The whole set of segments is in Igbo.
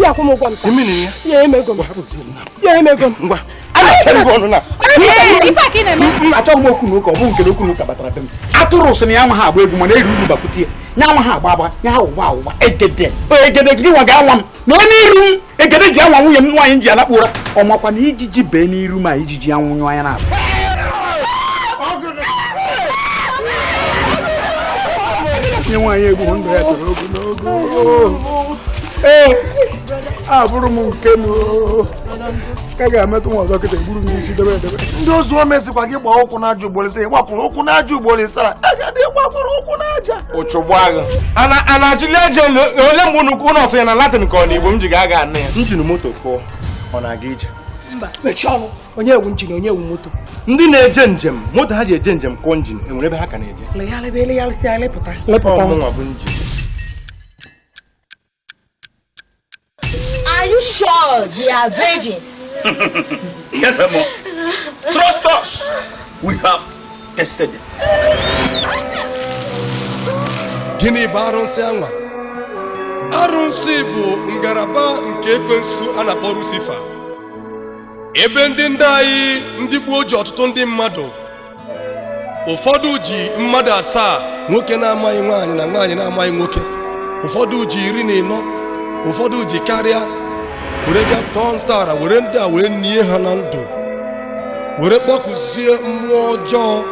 ya kwụọ m ụgwọ m taa. Imini ya. Ya nye m ego m. Ya nye m ego m. Ngwa. achọghị m okwu n'ụka ọ bụ nke okwu n'ụka batara be m atụrụ sị na ya nwa ha agba egwu mana eri uru bakwute ya nwa ha agba agba ya ha ụgba ụgba egede egede gị nwa ga-anwa m na ọ n'iru m egede ji anwa nwunye m nwaanyị m ji alakpu ụra ọ makwa na ijiji bee n'iru ma ijiji anwụnyụọ anya na abụ nye nwaanyị egbu ndụ ya toro ogologo ee abụrụ m nke m ka ga-emetụ nwa ọzọ kịta egburu m isi debe edebe ndị ozu o mezikwa gị gbaa ụkwụ n'aja ugboro ise ị gbakwụrụ ụkwụ n'aja ugboro ise a ga-adị gbakwụrụ ụkwụ n'aja ụchụgbagha ana ana achịli aja elu ole mgbe unu unu ọsị ya na Latin ka ọ na Igbo m ji ga aga anụ ya njin moto kụọ ọ na-aga ije mba mechie ọnụ onye wụ njin onye wụ moto ndị na-eje njem moto ha ji eje njem kụọ njin e nwere ebe ha ka na-eje legharịba elegharịsịa anyị lepụta Ọ mụnwa bụ njin Are you sure they are virgins? yes, Mama. Trust us. We have tested them. Gịnị bụ arụsị anwa? Arụsị bụ ngalaba nke ekwensu a na-akpọ Lucifer. Ebe ndị ndị anyị ndị gboo ji ọtụtụ ndị mmadụ ụfọdụ ji mmadụ asaa nwoke na-amaghị nwaanyị na nwaanyị na-amaghị nwoke ụfọdụ ji iri na ịnọ ụfọdụ ji karịa were ga tọọ ntọala were ndị a wee nie ha na ndụ were kpọkuzie mmụọ ọjọọ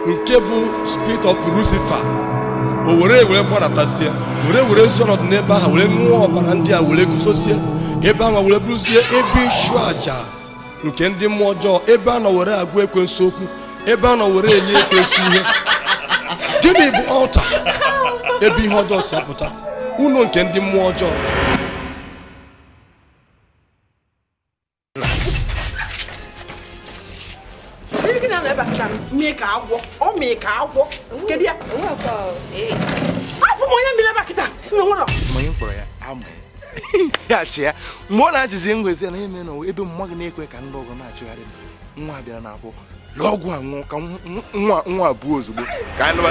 nke bụ spirit of Lucifer o were wee gbadatazie were werezie ọnọdụ n'ebe ahụ were ṅụọ ọbara ndị a were guzozie ebe ahụ were bụrụzie ebe ịchụ aja nke ndị mmụọ ọjọọ ebe a nọ were agwa ekwensu okwu ebe a nọ were enye ekwensu ihe gịnị bụ altar ebe ihe ọjọọ si apụta ụnọ nke ndị mmụọ ọjọọ afọ m onye mmiri ebe kịta si na nwụrọ onye m kpọrọ ya amaghị ya chị ya mgbe ọ na-achịzi ngwezi na eme na ebe mma gị na-ekwe ka ndị ọgọ na-achụgharị m nwa bịara na afọ lụọ ọgwụ a nwụọ ka nwa nwa abụọ ozugbo ka anyị lụwa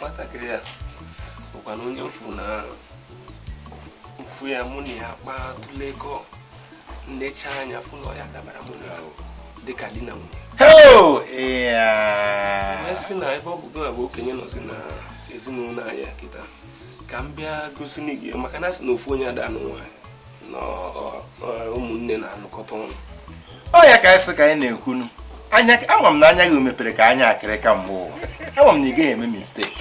nwatakịrị a bụkwanụ onye m fụ na m fụ ya mụ na ya kpaa tụlekọ m lecha anya fụ na ọ ya-adabara mụ na ya dịka di na nwunye sị na ebe ọ bụ gị bụ okenye nọzi na ezinụlọ anyị kịta ka m bịa gosi gị maka na a sị na ofu onye ada-anụ nwaanyị ụmụnne na-anọkọta ọnụ ọ ya ka anyị ka anyị na-ekwunu anya ama m na anya gị mepere ka anya akịrịka mgbe ụwa ama m na ị gaghị eme mistake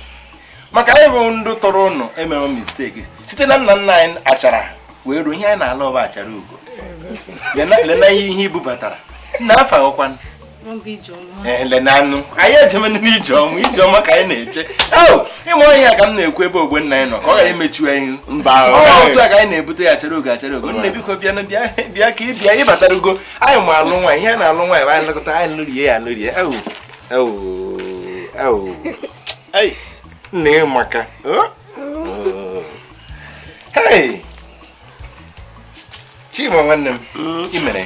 maka anyị bụ ndị tọrọ unu emewe mistake site na nna nna anyị achara wee ruo ihe anyị na-alụ bụ achara ugo lena ihe i bubatara nna afa ọkwanụ elenanụ anyị ejemene na ijeọma ijeọma ka anyị na-eche ị ma onye ya ka m na-ekwu ebe ogbe nna anyị nọ ka ọ ghara imechu anyị otu a ka anyị na-ebute ya chere oge achere oge nne biko bịa bịa ka ị bịa ị batarugo anyị ma alụ nwaanyị ihe na-alụ nwaanyị anyị lekọta anyị lụrie ya lụrie nna ị maka chima nwanne m imere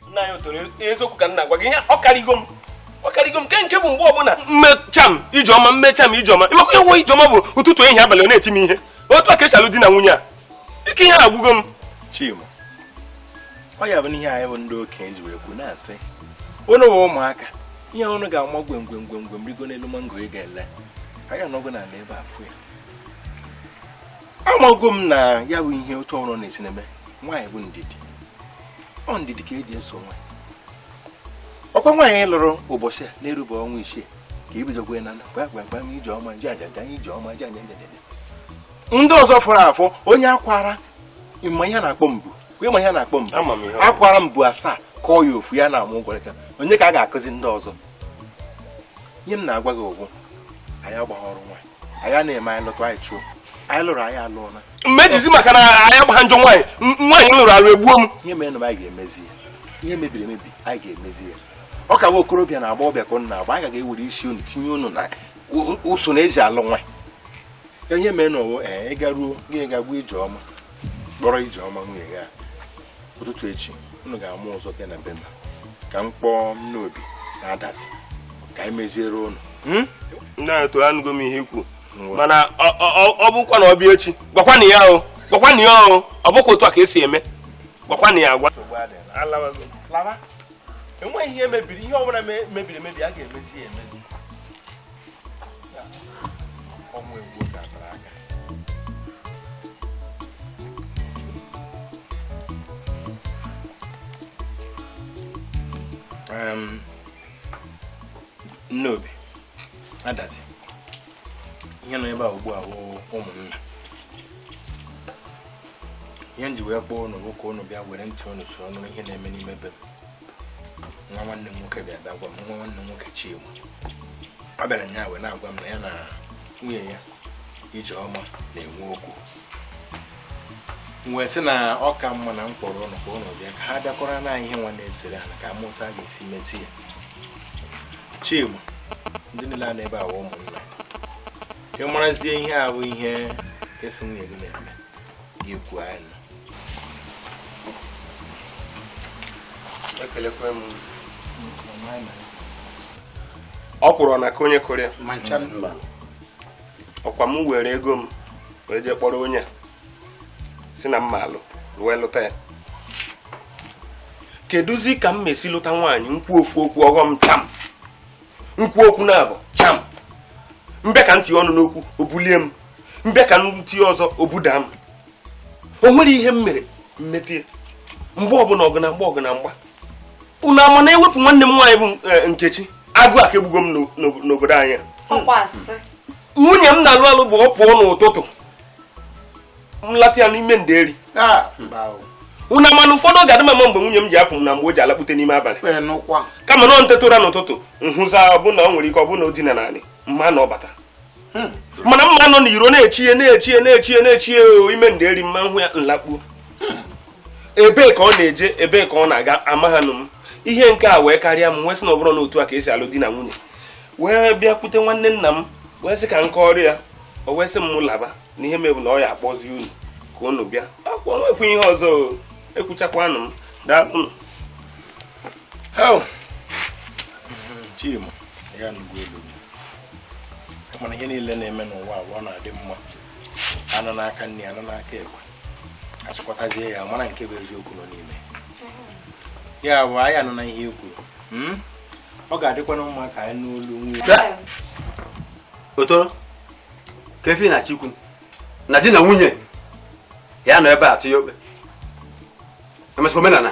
nna ya otoro eziokwu ka m na-agwa gị ihe ọ karịgo m ọ karịgo m nke nke bụ mgbe ọbụla m mee cham ijeọma m mee cham ijeọma ị makwa ihe nwa ijeọma bụ ụtụtụ ehihie abalị ọ na-eti m ihe otu a ka e si alụ di na nwunye a ike ihe a agwụgo m chima ọ ya bụ na ihe anyị bụ ndị okenye ji wee kwu na-asị unu bụ ụmụaka ihe unu ga-ama gwem gwem gwem gwem rigo n'elu mango ị ga-ele anyị anọgo n'ala ebe a fụ ya amago m na ya bụ ihe otu ọrụ na-esi na-eme nwaanyị bụ ndidi ọ ndidi ka e ji eso nwa ọ kwa nwaanyị ị lụrụ ụbọchị a na erube ọnwa isii ka i bidokwe na gwa gwa gwa m ijeọma nje aja ganye ijeọma nje anya njedede ndị ọzọ fọrọ afọ onye akwara ị ma ihe a na-akpọ mbu ị ma ihe a na-akpọ mbu akwara mbu asaa kọọ ya ofu ya na-amụ ụgwọrịka onye ka a ga-akụzi ndị ọzọ ihe m na-agwa gị ụgwọ anyị agbaghị ọrụ nwaanyị anyị anaa eme anyị lụta anyị chụọ anyị lụrụ anyị alụọ na mmejizi maka na anyị agbaha njọ nwaanyị m- nwaanyị m lụrụ alụ egbuo m ihe merenụ m anyị ga-emezi ya ihe mebiri emebi anyị ga-emezi ya ọ ka nwa okorobịa na agbọbịa ka unu na-agba anyị ga-ewere isi unu tinye unu na u- u- usoro e ji alụ nwa ihe merenụ owo ee ị garuo gị gaa gwa ijeọma kpọrọ ijeọma nwunye gị a ụtụtụ echi unu ga-ama ụzọ bịa na be m ka m kpọọ nnobi na adazi ka anyị meziere unu hmm? na-eto anụgo m ihe i kwu mana ọ bụkwanụ ọ bịa echi gwakwanụ ya o gwakwanụ ya o ọ bụkwa otu a ka e si eme gwakwanụ ya agwa enweghị ihe mebiri ihe ọbụla mebiri emebi a ga-emezi ya emezi nnobi adazi ihe nọ ebe a ugbu a wụ ụmụnna ihe m ji wee kpọọ unu bụ ka unu bịa were ntị unu soro nụrụ ihe na-eme n'ime be m nwa nwanne m nwoke bịa bịa gwa m nwa nwanne m nwoke Chima ọ bịara nya wee na-agwa m na ya na nwunye ya Ijeọma na-enwe okwu m wee sị na ọ ka mma na m kpọrọ ụnụ ka ụnụ bịa ka ha bịakọrọ na ihe nwa na-esere ha ka a ma otu a ga-esi mezie ya Chima ndị niile a nọ ebe a wụ ụmụnna ị marazie ihe ahụ ihe ị sị nwunye gị na-eme ikwu anyị ekelekwa m ọkwụrụ ọ na-aka onye kụrụ ya ọ kwa m were ego m wee jee kpọrọ onye sị na m ma-alụ wee lụta ya kedụzi ka m ma-esi lụta nwaanyị m kwuo ofu okwu ọ ghọ m cham m kwuo okwu naabọ cham m bịa ka m tinye ọnụ n'okwu o bulie m m bịa ka m tinye ọzọ o buda m o nwere ihe m mere mmetie mgbe ọbụla ọgụ na mgba ọgụ na mgba unu ama na e wepụ nwanne m nwaanyị bụ e, nkechi agụụ aka egbugo m n'obodo anyị nwunye m na-alụ alụ bụ ọ pụọ n'ụtụtụ nlata ya n'ime nderi ah, unu ama na ụfọdụ ga adị m ama mgbe nwunye m ji apụ na mgbe o ji alakpute n'ime abalị kama na m teta ụra n'ụtụtụ m hụzịa ọbụna o nwere ike ọbụna o dina n'anị m ma na ọ bata hmm. mana m ma-anọ n'iro na-echie na-eche ya na-eche ya na-eche ya ime nderi m ma-ahụ ya nlakpuo hmm. ebee ka ọ na-eje ebee ka ọ na-aga amaghanu m ihe nke a wee karịa m wee sị na ọ bụrụ na otu a ka e si alụ di na nwunye wee bịakwute nwanne nna m wee sị ka m kọọrọ ya o wee sị m laba na ihe mebu na ọ ya akpọzi unu ka unu bịa e kwukọọ o nwekwu ihe ọzọ ekwuchakwanụ m daalụ Chima, ya nugwu elu. mana ihe niile na-eme n'ụwa a bụ ọ na-adị mma a nụ n'aka nni a nụ n'aka ekpe a chịkọtazie ya mara nke bụ eziokwu nọ n'ime ya bụ anyị anụna ihe i kwuru hmm? ọ ga-adịkwana mma ka anyị nụ olu nwunye otoro ka efi na chikwu na di na nwunye ya nọ ebe a tụnye okpe emesịa omenala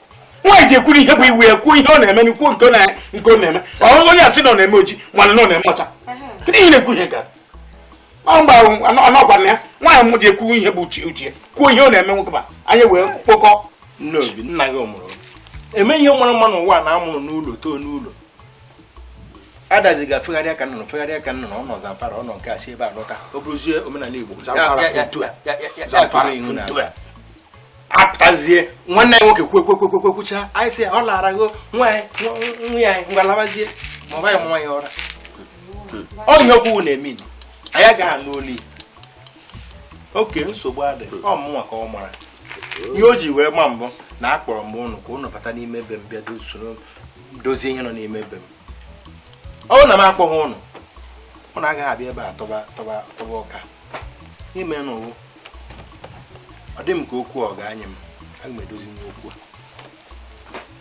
nwaanyị ji ekwuru ihe bụ iwu ya kwuo ihe ọ na-eme n'ikwu nke ọ na-eme ọ bụrụ onye a sị na ọ na-eme oji mana na ọ na-eme ọcha kedu ihe na-ekwu ihe gara mgbe ọnọgwa na ya nwaanyị m ji ekwu ihe bụ uche uche kwuo ihe ọ na-eme nwoke ma anyị wee kpokọ n'obi nna gị ọ mụrụ ime ihe mara mma n'ụwa nwa a mụrụ n'ụlọ too n'ụlọ adazi ga fegharịa ka nnụnụ fegharịa ka nnụnụ ọ nọ zamfara ọ nọ nke a si ebe a lọta ọ bụrụzie omenala igbo apụtazie nwanne anyị nwoke kwuekwuekwuekwucha anyị si ọ lara gho nwa ya ngwa labazie ma ọ baghị nwa ya ọra ọ ihe okwu na-eme anyị agaghị anụ olu okay nsogbu adị ọ mụnwa ka ọ mara ihe o ji wee gba mbụ na akpọrọ m ụnụ ka ụnụ bata n'ime be m bịa soro dozie ihe nọ n'ime be m ọ na m akpọghị ụnụ ụnụ agaghị abịa ebe a tọba tọba tọba ọka ime n'ụwụ ọ dị m ka okwu ọ ga-anye m aga m edozinwu okwu a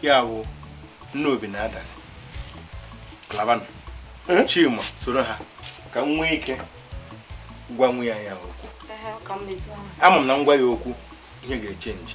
ya wụ Nneobi na Adazi labanụ chima soro ha ka m nwee ike gwa nwunye ya okwu ama m na m gwa ya okwu ihe ga-echenji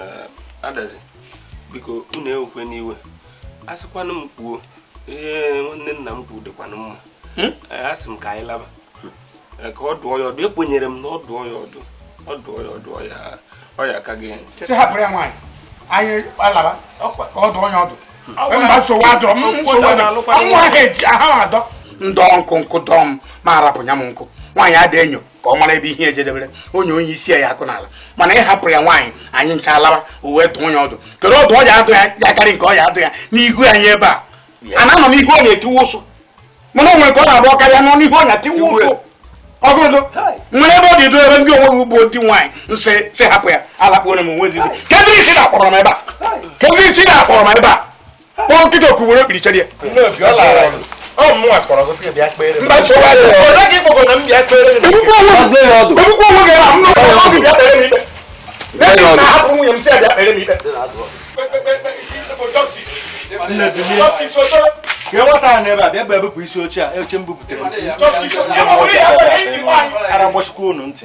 Eh, adazi biko unu ewekwena iwe a sịkwanụ m kwuo ihe nwanne nna m kwuru dịkwanụ mma hmm? eh, a sị m ka anyị laba eh, ka ọ dụọ ya ọdụ ekwenyere m na ọ dụọ ya ọdụ ọ dụọ ya ọdụ ọ ya aka ege ntị hapụrụ ya nwaanyị anyị alaba ka ọ dụọ ya ọdụ mba nsogbu adịrọ nsogbu adịrọ nwa ha eji aha adọ ndọ nkụ nkụ dọọ m ma arapụ nya m nkụ nwaanyị ada enyo ka ọ mara ebe ihe jedebere onye onye isi ya akụ n'ala mana ị hapụrụ ya nwaanyị anyị ncha alaba o wee dụọ ya ọdụ kedu ọdụ ọ ya adụ ya ya karị nke ọ ya adụ ya n'ihu anyị ebe a ana anọ n'ihu ọ na-etiwe ụsụ mana o nwere ka ọ na-abụ karịa nọ n'ihu ọ na-etiwe ụsụ ọgụdụ nwere ebe ọ dị edo ebe ndị onweghị ugbo ndị nwaanyị nsị sị hapụ ya alakpuo na m onwe ezi kedụ isi na-akpọrọ m ebe a kedụ isi na-akpọrọ m ebe a kpọọ nkịta oku were okpiri chere ya isi oche a oche m bubutere ara gbachikwa unu ntị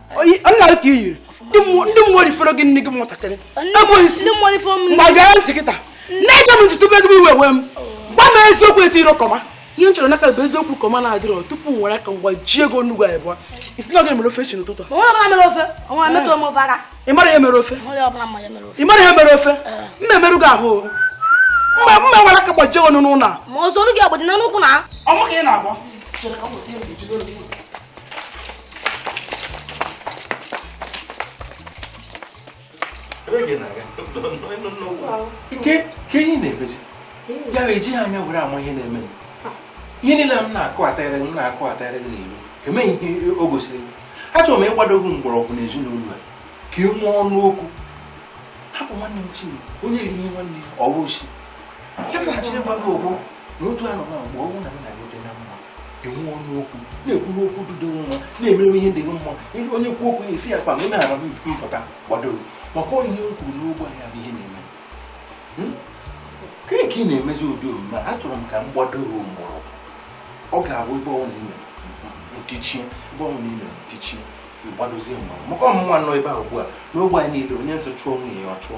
nna gị ka i yiri ndị mmụọ rifere gị nne gị nwatakịrị ekweghị isi gbagara ntị kịta na-eje m ntutu ezigbo iwe ewe m gwa m eziokwu eti iro kọma ihe m chọrọ n'aka bụ eziokwu kọma na-adịrọ tupu m were aka m gbajie gị nnukwu anyị bụọ isi na ọ gị mere ofe chi n'ụtụtụ ị mara ihe mere ofe ị mara ihe mere ofe m ga-emerụ gị ahụ mma mma nwere aka gbajie gị n'ụlọ a ọ mụ ka ị na-agba ike ka enyi na-emezi ya bụ ejighị anya were ama ihe na-eme ihe niile m na-akụ atagharị m na-akụ atagharị gị n'ilo emeghị ihe o gosiri gị achọrọ m ịkwado gị mgbọrọgwụ na ezinụlọ a ka ị nwee ọnụ okwu hapụ nwanne m chinwe onye riri ihe nwanne ya ọwa osi ya bịaghachi ịgwa gị ụgwọ na otu anọ na mgbe mụ na nna gị dị na mma i nwee ọnụ okwu na-ekwu okwu dị mma na-emere ihe dị mma ebe onye kwuo okwu na-esi ya kpa ma ị na-ara mpụta kwadoro maka ihe m kwuru n'ogbe ahịa bụ ihe na-eme hmm? ka ị na-emezi ụdị omume a chọrọ m ka m gbadoro mgbọrọgwụ ọ ga-abụ ebe ọ wụ na ntichie ebe ọ wụ na ntichie ịgbadozie mgbọrọgwụ maka mụnwa nọ ebe a ugbu a n'ogbe anyị niile onye m sị chụọ nwunye ya ọ chụọ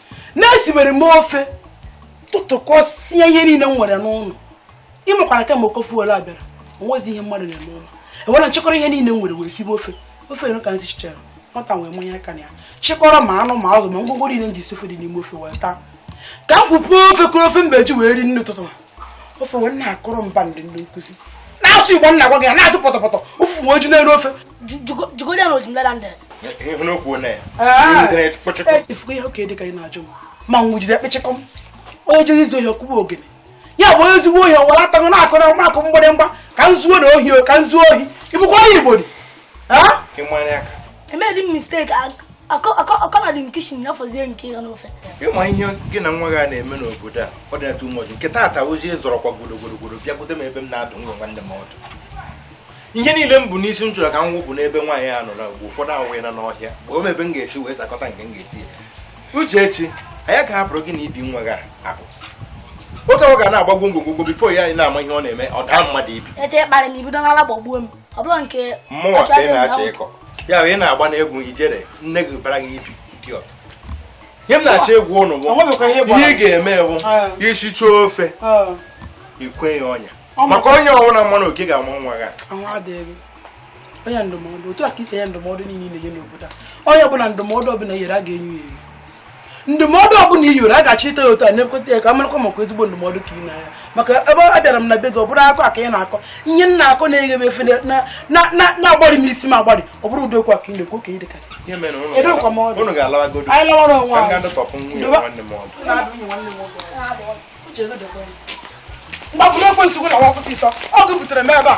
na-esiwere m ofe tụtụkọsịa ihe niile m nwere n'ụlọ ị makwa na kemgbe ụkọ fuel a bịara o nwezi ihe mmadụ na-emeli m wee chịkọrọ ihe niile m nwere wee sibe ofe ofe enu ka m sichachara nwata a wee manye aka na ya chịkọrọ ma anụ ma azụ ma ngwongwo niile m ji esi ofe dị n'ime ofe wee taa ka m kupụ ofe kuru ofe m ga-eji wee rie nni ụtụtụ ofe wee na-akụrụ m band ndị nkụzi na-asụ igbo m na-agwa gị ya na-asụ pọtọpọtọ ụfụfụ mejuo n'elu ofe jugodi na ojimla na ndịrị ị fụgo ihe oke dịka ị na-ajụ m ma nwụ jide ekpechekọ m onye jere izu ohi ọ kụba ogene ya bụ onye ezigbo ohi ọwara atagụ na-akụrụ m akụ mgbịrịmgba ka m zuona ohi ka m zuo ohi ị bụkwa onye igbo emedi m mistake akọla dị m kitchen ya fọzie nke ya n'ofe ị ma ihe gị na nwa gị a na-eme n'obodo a ọ dị atụ ụnụ ụjọ nke taata ozi zọrọkwa gburugburu bịakwute m ebe m na-adụ nwa nwanne m ọdụ ihe niile m bu n'isi m chọrọ ka m wụpụ n'ebe nwaanyị a nọrọ mgbe ụfọdụ ahụghị na n'ọhịa kpọọ m ebe m ga-esi wee zakọta nke m ga-eti ya uchechi anyị ga-ahapụrụ gị na ibi nwa gị ahụ oke ọ ga na-agbagwo ngwongwo before anyị na-ama ihe ọ na-eme ọ daa mmadụ ibi ọ bụrụ nke mụnwa ka ị na-achọ ịkọ ya bụ ị na-agba n'egwu ijere nne gị bara gị ibi idiot ihe m na-achọ ịgwa ụnụ bụ ihe ị ga-eme wụ i sichaa ofe i kwe ya ọnya maka ọnya ọbụla manụ oke ga-ama nwa gị onye ndụmọdụ otu a ka i si enye ndụmọdụ niile ị na-enye n'obodo a onye ọbụla ndụmọdụ ọbụla i nyere a ga-enye ya enye ndụmọdụ ọbụla i nyere a ga-achọ ite ya otu a na-ekweta ya ka a marakwa maka ezigbo ndụmọdụ ka ị na-enye maka abịara m na be gị ọ bụrụ akọ a ka ị na-akọ ihe m na-akọ na-efe m efe na-agbarị m isi m agbarị ọ bụrụ ụdị okwu a ka ị na-ekwu ka ọ dị ka anyị lawara onwe anyị m gbapụrụ ekwe nsogbu na nwakwụsị ịtọ ọ gị butere m ebe a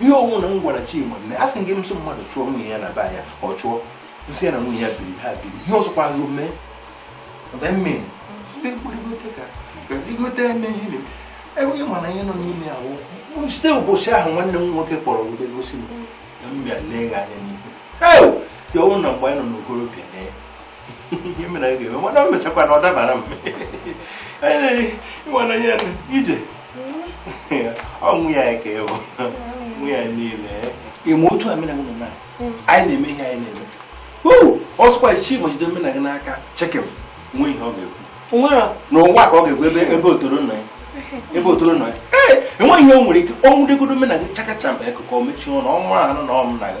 ihe ọ wụ na m gwara Chima mme asị m gị m sị mmadụ chụọ nwunye ya na be anyị a ọ chụọ m sị ya na nwunye ya biri ha biri ihe ọzọkwa ahụ mee mmiri igote eme ihe enweghị e mana ihe nọ n'ime ahụ site ụbọchị ahụ nwanne m nwoke kpọrọ wube gosi m na m bịa lee gị anya n'ihu sị ọ wụ na mgbe anyị nọ n'okorobịa na ihe mere anyị ga-eme mana o mechakwa na ọ dabara m ịmana ihe ije ọnwụ ya ka ịbụ nwa ya niile ịma otu a mụ na gị na anyị na-eme ihe anyị na-eme ọ sịkwa chima jide mụ na gị n'aka chekem nwe ihe ọ ga-ekwu n'ụwa ka ọ ga-ekwu ebe ebe otoro nọ ya ebe otoro nọ ya ee enweghị ihe o nwere ike o nwudegodo mụ na gị chakacha mba akụkọ mechie ụlọ ọnwa anụ na ọ mụ na gị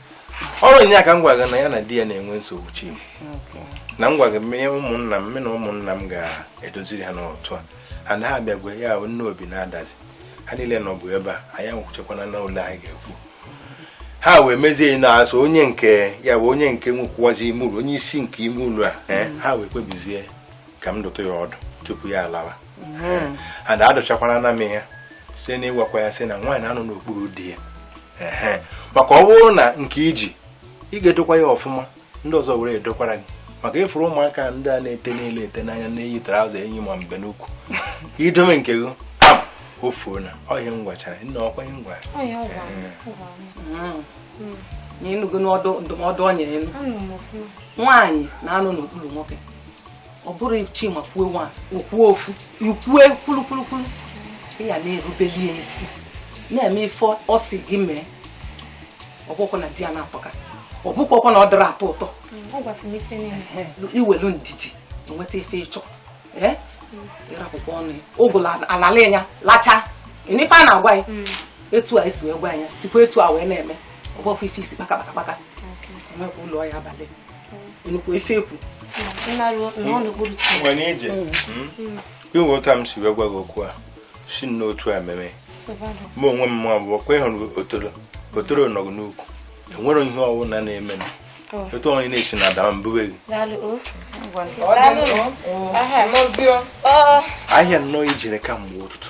ọrụ nya ka m gwa gị na ya na di ya na-enwe nsogbu chim na m gwa ụmụnna m na ụmụnna m ga-edoziri ha n'otu a ha na ha abịa gwa ya ahụ nne obi na-adazi ha niile nọbu ebe a anyị anwụchekwana na ụlọ anyị ga-ekwu ha wee mezie na-asị onye nke ya bụ onye nke nwekwazi ime ụlọ onye isi nke ime ụlọ a eh, ha wee kpebizie ka a dụtụ ya ọdụ tupu ya alawa and adụchakwara na m ya site n'ịgwakwa ya sị na nwaanyị na-anọ n'okpuru di ya Ehe. maka ọ bụrụ na nke i ji ị ga-edokwa ya ọfụma ndị ọzọ ewere dokwara gị maka ị fụrụ ụmụaka ndị a na-ete n'elu ete n'anya na-eyi traụza eyi ma mbe n'ukwu i dome nke gị pam, o fuo na ọ ihe m gwachara nna ọkwa ihe m gwara na ị nụgo n'ọdụ ndụmọdụ ọ nyere elu nwaanyị na-anọ n'okpuru nwoke ọ bụrụ chima kwuo nwa o kwue ofu i kwue kwulukwulukwulu ị ya na-erubeli ya isi na-eme ife ọ si gị mee ọ bụkwọ na di ya na-akpọka ọ bụkwakwa na ọ dịrọ atọ ụtọ mm, i welu ndidi i nweta ife ị chọ ịrapụkwa ọnụ ya ụgụlụ anala ya lacha ife a na-agwa ya mm. etu a esi wee gwa ya sikwa etu a wee na-eme ọ bụkwa ife isi kpaka kpaka kpaka enwekwa ụlọ ya abalị nnukwu ife ekwu nwere ije inwe otu a m si wee gwa gị okwu a si n'otu a mere mụ onwe m ma bụ kwa ị hụrụ otoro otoro nọgụ n'ukwu enwere ihe ọbụla na-eme na etu ọnwụ na-esi na ada mbube gị ahịa nnọọ i jere kamgbe ụtụtụ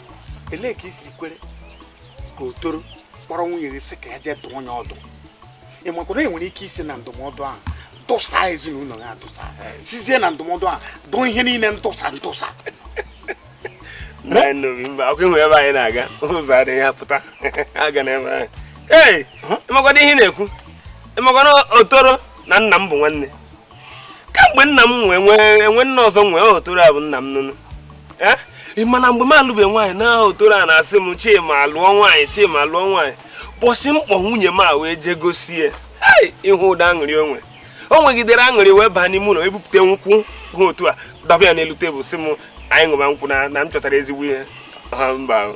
elee ka i siri kwere ka otoro kpọrọ nwunye gị sị ka ya jee dụọ onye ọdụ ị makwa na e nwere ike isi na ndụmọdụ ahụ dụsa ezinụlọ ya dụsa sizie na ndụmọdụ ahụ dụọ ihe niile ndụsa ndụsa Anyị nụrụ mba akwụkwọ ịhụ ebe anyị na-aga ụzọ adịghị ya pụta aga n'ebe ahụ ee ị makwadụ ihe ị na-ekwu ị makwa na otoro na nna m bụ nwanne kamgbe nna m nwụọ enwe nna ọzọ nwee ọ otoro a bụ nna m nụnụ Eh? ị ma na mgbe m alụbe nwaanyị na ọ otoro a na-asị m chima lụọ nwaanyị chima lụọ nwaanyị ụbọsị m kpọ nwunye m a wee jee gosi ya Hey! ị hụ ụdị aṅụrị o nwe o nwegidere aṅụrị wee baa n'ime ụlọ bupụta nkwụ ha otu a dọba ya n'elu tebụl sị m anyị ṅụba nkwụ na na m chọtara ezigbo ihe Ha, mba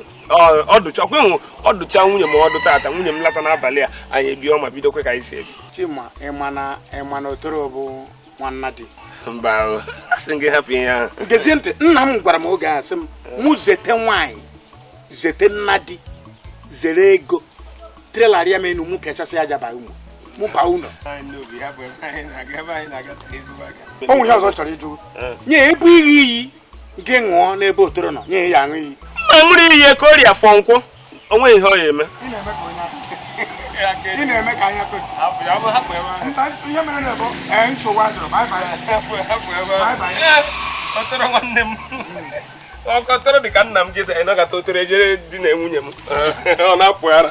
ọdụcha ọkwa ịhụ ọdụcha nwunye m ọdụ tata nwunye m lata n'abalị a anyị ebi ọma bidokwa ka anyị si ebi chima ịma na ịma na otoro bụ nwanna di mba asị gị hapụ ihe ahụ gezie ntị nna m gwara m oge ọ sị m mụ zete nwaanyị zete nna di zere ego trailer rịa m enu mụ pịachasị aja ba ụmụ mụ baa ụlọ o nwe ihe ọzọ chọrọ ịjụ nye ebu ihe iyi gị ṅụọ n'ebe otoro nọ nye ya aṅụ iyi ma ṅụrụ iyi eke orie afọ nkwọ o nweghị ihe ọ ya-eme ị na-eme ka anya ihe mere na bụ ee nsogbu adịrọ otoro nwanne m ọ ka otoro dị ka nna m jeta ịnọkọta otoro ejere di na nwunye m ọ na-apụ ara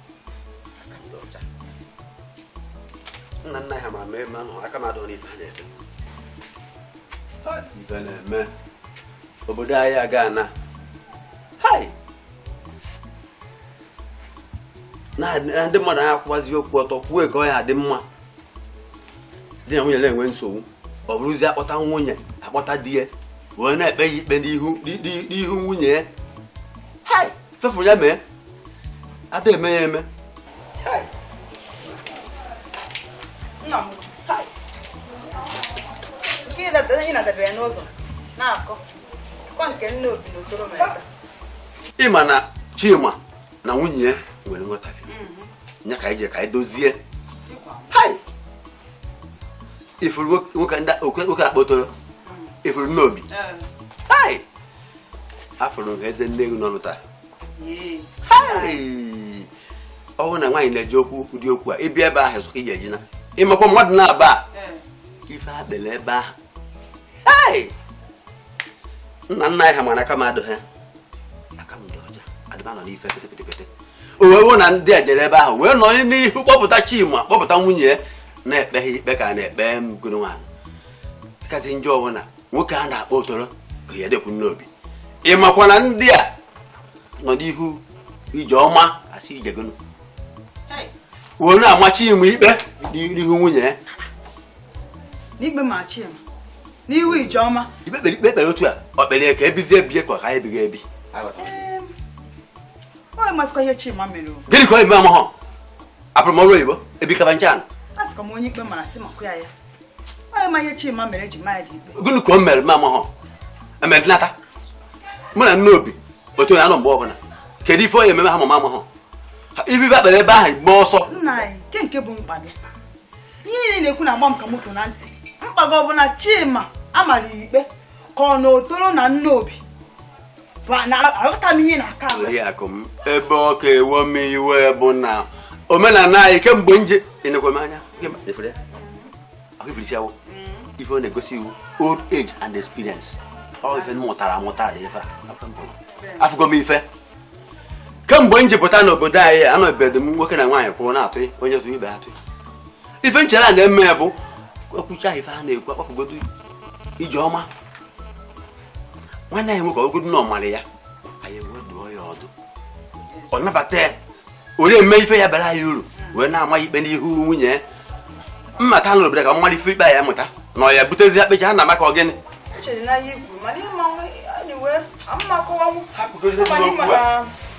nna nna ha mara na mụ aka m adọ n'ife ha na-eme ife na-eme obodo anyị aga ana na ndị mmadụ anaghị akwụwazi okwu ọtọ kwuo ka ọ ya-adị mma di na nwunye na-enwe nsogbu ọ bụrụzi akpọta nwunye akpọta di ya wee na-ekpe ya ikpe n'ihu nwunye ya fefuru ya mee ada eme ya eme ị ma na Chima na nwunye ya nwere nghọtafie mm-hmm. nya ka anyị je ka anyị dozie ị fụrụ nwoke ndị oke akpọ otoro mm. ị fụrụ nne obi eh. afụrụ eze nne gị n'ọnụ taa ọ bụrụ na nwaanyị na-eji okwu ụdị okwu a ị bịa ebe ahụ sụka ị ga-eji na ịmakwa mmadụ na-aba ife ha kpere ebe ahụ nna nna anyị ha mara aka m adụ ha aka m dị ọcha adịba nọ n'ife pịtịpịtịpịtị o wee wụ na ndị a jere ebe ahụ wee nọ n'ihu kpọpụta chima kpọpụta nwunye ya na-ekpe ha ikpe ka a na-ekpe mgoro nwaanyị kazi njọ ọ bụ na nwoke a na-akpọ otoro ka ya dekwu n'obi ị makwa na ndị a nọ n'ihu ijeọma asị ije gịnụ wee na-ama chima ikpe n'ihu nwunye ya n'ikpe ma chima n'ihu ijeọma ikpe kpere ikpe kpere otu a ọ kpere ka e bizie ebi ka ọ ka ebighị ebi ọ masịkwa ihe chima mere o gịnị ka o mere amahọ abụrụ m ọrụ oyibo ebikaba nche anụ a sịkwa m onye ikpe mara sị makwa ya ya gịnị ka o mere m amaghọ emedinata mụ na nne obi otu ya nọ mgbe ọbụla kedu ife ọ ya-eme ha mama amaghọ ife e kpere ebe ahụ gba ọsọ ihe niile na-ekwu na-agba m ka moto na ntị mkpago ọ bụ na chima amara ikpe ka ọ na otoro na nne obi aghọta m ihe ị na-akọ oriakụ m ebe ọ ka ewe m iwe bụ na omenala anyị kemgbe nje enekwa m anya ọkwa ị fụrụ isi awọ ife ọ na-egosi wụ old age and experience ọ ife m mụtara amụtara dị ife afụgo m ife kemgbe m ji pụta n'obodo anyị anụbedo m nwoke na nwaanyị kwụrụ na-atụ onye tụọ ibe atụọ ife m chere a na-eme ya bụ kwucha ife a na-ekwu akpakọgodo ijeọma nwanne anyị nwoke ogodo na ọ mara ya anyị wee dụọ ya ọdụ ọ nabata ya were mee ife ya-abara ya uru wee na-ama ikpe n'ihu nwunye ya mma ka nụrụ bere ka mmadụ ife ikpe ya mụta na ọ ya butezi akpecha ha na maka ọgịnị Uche dị n'anya ikwu mana ịma nwa anyway, ama m akọwanwu. Hapụgodi Ọ ma na ịma n'okwu a. na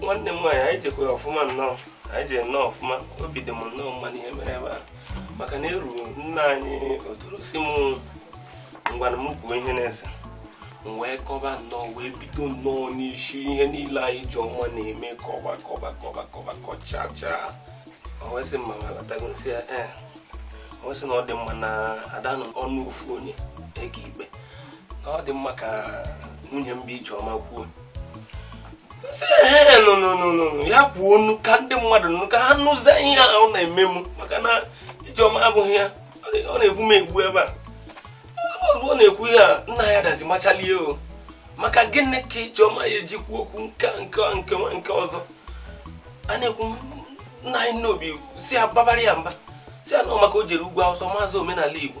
nwanne m nwaanyị anyị jekwa ọfụma nnọọ anyị jere nnọọ ọfụma obi dị m nnọọ mma n'ihe mere ebe a maka na e ruo nna anyị otoro sị m ngwanụ m kwuo ihe na-ese m wee kọba nnọọ wee bido nnọọ n'isi ihe niile ijeọma na-eme kọba kọba kọba kọba kọchacha o wee sị mma alatago nsị ya ee eh. o wee sị na ọ dị mma na a da-anụ ọnụ ofu onye ekpe ikpe ọ dị mma ka nwunye m bụ ijeọma kwuo ya kwuonụ ka ndị mmadụ nụ ka ha nụzie ihe a ọ na-eme m maka na ijeọma abụghị ya ọ na-egbu m egbu ebe a ozugbo ọ na-ekwu ihe a nna anyị adazi machalie ọ maka gịnị ka ijeọma ya-eji kwuo okwu nke nke nke nke ọzọ a na-ekwu nna anyị nna obi si ya babara ya mba sị ya na ọ maka o jere ugwu awụsa amazị omenala igbo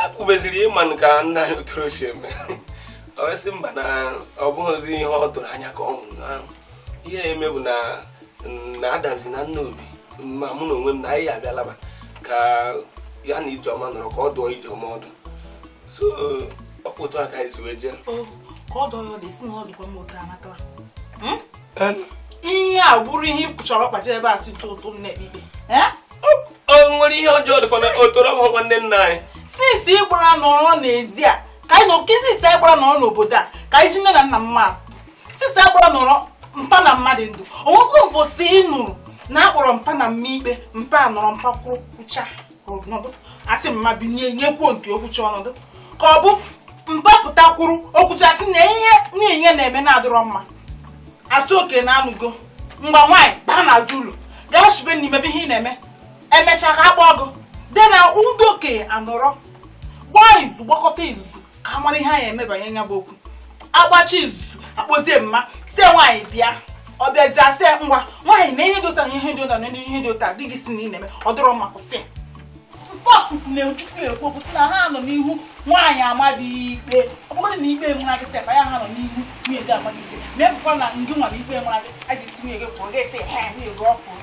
e kwubeziri ị manụ ka nna anyị otoro si eme o wee sị mba na ọ bụghịzi ihe ọ tụrụ anya ka ọ hụ na ihe eme bụ na na adazi na nna obi ma mụ na onwe m na anyị bịa laba ka ya na ijeọma nọrọ ka ọ dụọ ijeọma ọdụ so ọ bụ otu a ka anyị si wee jee ka ọ dụọ ya ọdụ ị sị na ọ dụkwa m otu anatara hmm? ihe a bụrụ ihe ị chọrọ kpacha ebe a since ụtụtụ nne ikpe o nwere ihe ọjọọ dịkwa na otoro ọ bụghị nwanne nna anyị since ị gbara nọrọ n'ezi a ka anyị nọ nke since anyị gbara nọrọ n'obodo a ka anyị ji nne na nna mma since anyị gbara nọrọ mpa na mma dị ndụ o nwekwa mbọsị ị nụrụ na a kpọrọ mpa na mma ikpe mpa nọrọ mpa kwuo kwucha ọ nọdụ a sị mma binye ya kwuo nke o kwucha ọ nọdụ ka ọ bụ mpa pụta kwụrụ o kwucha a sị na ihe niile na-eme na-adịrọ mma a sị okay na anụgo mgbe nwaanyị baa n'azụ ụlọ gaa shibe nri mebe ihe ọ na-eme e mechaa ka a kpọọ ọgụ dị na ndị okenye anọrọ gbaa izu gbakọta izuzu amara ihe anyị emebanye nya bụ okwu agbachaa izu akpọzie mma sị nwaanyị bịa ọ bịazi asị ngwa nwaanyị nee ihe dị otu a na ihe dị otu a na ihe dị otu a di gị sị na ị na-eme ọ dịrọ mma kwụsị mkpọkụkụ na-echukwu ekwu bụ sị na ha nọ n'ihu nwaanyị ama di ikpe ọ bụrụ na ikpe mara gị sị ya ha nọ n'ihu nwunye gị ama gị ikpe na-ebụkwa na ndị nwara ikpe mara gị a ga-asị nwunye gị pụọ ga-asị ha nwunye gị ọ pụrụ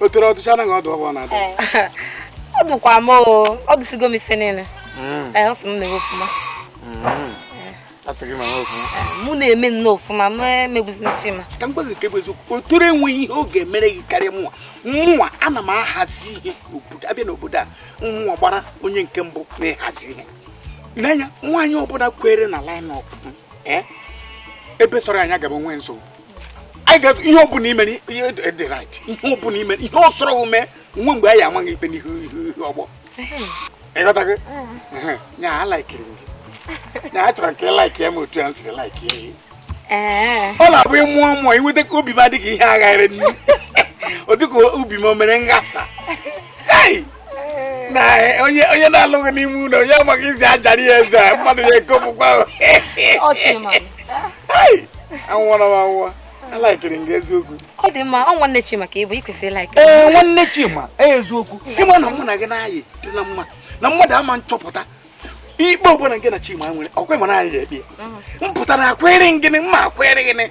Otoro ọ dụchaana gị ọdụ ahụ ọ na-adụ ọ dụkwa m o ọ dụsigo m ife niile mm. ọ sị m na-eme ofuma mm. mụ na-eme nnọọ ofuma m emegbuzina chima ka m gwazie gị nke bụ eziokwu Otoro enweghị ihe ọ ga-emere gị karịa mụnwa mụnwa ana m ahazi ihe abịa n'obodo anwa gbara onye nke mbụ na-ahazi ihe n'anya nwaanyị ọbụla kwụrụ na line up eh? ebe sọrọ ya nya gaba o nweghị nsogbu anyị ga-eto ihe ọbụla i mere dị right ihe ọbụla i mere ihe sọrọ i mee nwe mgbe anyị ama gị ikpe n'ihu ihu ọgbọ ịghọtago nya ha laikiri gị nya ha chọrọ nke like ya ma otu ya m siri like ya ọ na-abụ ịmụọ mmụọ inweta ka obi m adịghị ihe agharị ọ dịka obi m o mere nghasa na onye onye na-alụghị n'ime ụlọ ya amaghị izi ajara ya eze a, mmadụ ya ekopụkwa ahụ. Ọ chịrị ma. Ai, anwụọla m anwụọ alaikiri m gị eziokwu Ọ dị mma, ọ nwanne Chima ka ị bụ, ị kwesịrị like. ee nwanne chima eziokwu ịma na mụ na gị na-ayị dị na mma na mmadụ ama nchọpụta ikpe ọbụla gị na chima nwere ọkwa ịma na anyị ya ekpe ya. m pụtara akwere gịnị mma akwere gịnị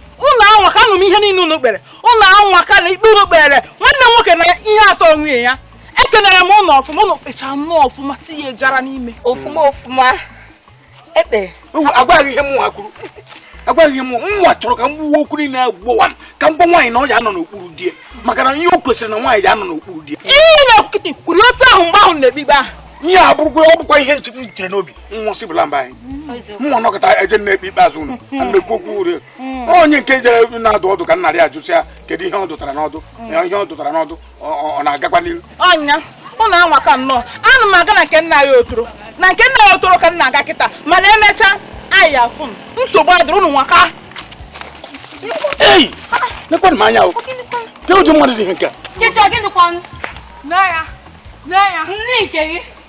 unu anwaka anụ m ihe niile unu kpere unu anwaka na ikpe unu kpere nwanne m nwoke na ihe asọ onwe ya ekenere m unu ọfụma unu kpechara nnọọ ọfụma tinye jara n'ime ofuma ofuma ekpe agwaghị ihe mụnwa kwuru agwaghị ihe mụnwa chọrọ ka m gbuwe okwu niile agbowa m ka m gwa nwaanyị na ọ ya anọ n'okpuru di ya maka na ihe o kwesịrị na nwaanyị ya anọ n'okpuru di ya ihe na-ekwu kịta kwuru otu ahụ mgbe ahụ na-ekpe ikpe ahụ ihe a bụrụkwa ọ bụkwa ihe nche- m chere n'obi nwụsị bụla mba anyị mmụọ nọkọta eje na-ekpe ikpe azụ unu mmekwu okwu ure onye nke jere na-adụ ọdụ ka nnarị ajụsịa kedu ihe ọ dụtara n'ọdụ ihe ọ dụtara n'ọdụ ọ na-agakwa n'iru ọ nya ụnụ anwaka nnọọ ana m aga na nke nna anyị Otoro na nke nna anyị Otoro ka m na-aga kịta mana emechaa anyị afụ nsogbu adịrị ụnụ anwaka ei nekwanụ m anya o kee ụdị mmadụ dị ihe nke a Nkechi ọ gịnịkwanụ? Nne ya. Nne ya. Nne nke gị.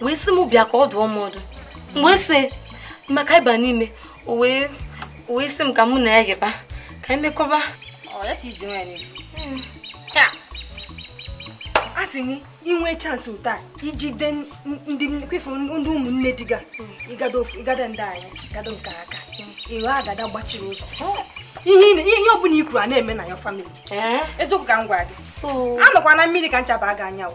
wee sị m bịa ka ọ dụọ m ọdụ wee sị m ka a ba n'ime wee wee sị m ka mụ na ya yịba ka e mekọba a sị m i nwee chance otu a i jide ndị kwefu ndị ụmụnne di gị ịgada ndị anyị gado nke aka ịghọ agada gbachiri ụzọ ihe ọbụla i kwuru a na-eme na ya family eziokwu ka m gwara gị anọkwana mmiri ka ncha baa gị anya o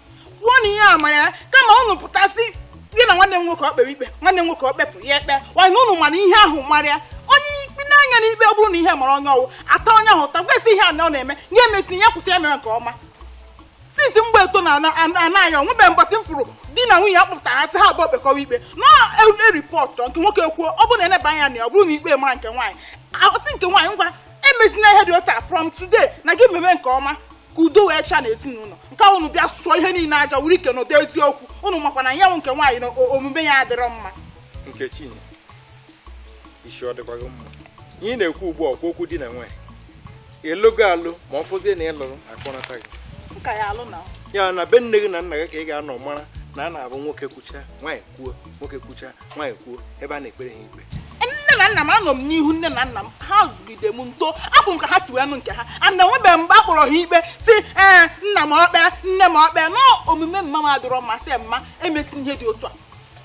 kwuo na ihe a mara ya kama unu pụtasị gị na nwanne m nwoke ọ kpere ikpe nwanne m nwoke ọ kpepụ ya ekpe wanyị na unu mana ihe ahụ mara ya onye ikpe na-anya na ikpe ọ bụrụ na ihe mara onye ọwụ a taa onye ahụ ụta gwa sị ihe a na ọ na-eme ya emesi ya kwụsị ya mere nke ọma since mgbe eto na anaghị o nwebe mbọsị m fụrụ di na nwunye a kpọpụtara ha sị ha abụọ kpekọwa ikpe na e report nke nwoke kwuo ọ bụrụ na e neba anya na ya ọ bụrụ na ikpe mara nke nwaanyị a sị nke nwaanyị ngwa emezina ihe dị otu a from today na gị meme nke ọma ka udo wee chịa n'ezinụlọ nke a unu bịa sụọ ihe niile aja wuru ike n'ụdị eziokwu unu makwa na ya wụ nke nwaanyị na o- omume ya adịrọ mma nkechinyere isi ọ dịkwa gị mma ihe ị na-ekwu ugbu a ọ kwa okwu di na nwanyị ị lụgo alụ ma ọ fụzie na ị lụrụ a kpọnata gị nka ya alụ na ya na be nne gị na nna gị ka ị ga-anọ mara na a na-abụ nwoke kwucha nwaanyị kwuo nwoke kwucha nwaanyị kwuo ebe a na-ekpere ha ikpe nne na nna m anọ m n'ihu nne na nna m ha zụgide m m too afụ m ka ha si wee nụ nke ha and enwebeghị mgbe a kpọrọ ha ikpe sị ee nna m ọ kpee nne m ọ kpee na omume mma m adịrọ mma sị mma emesi ihe dị otu a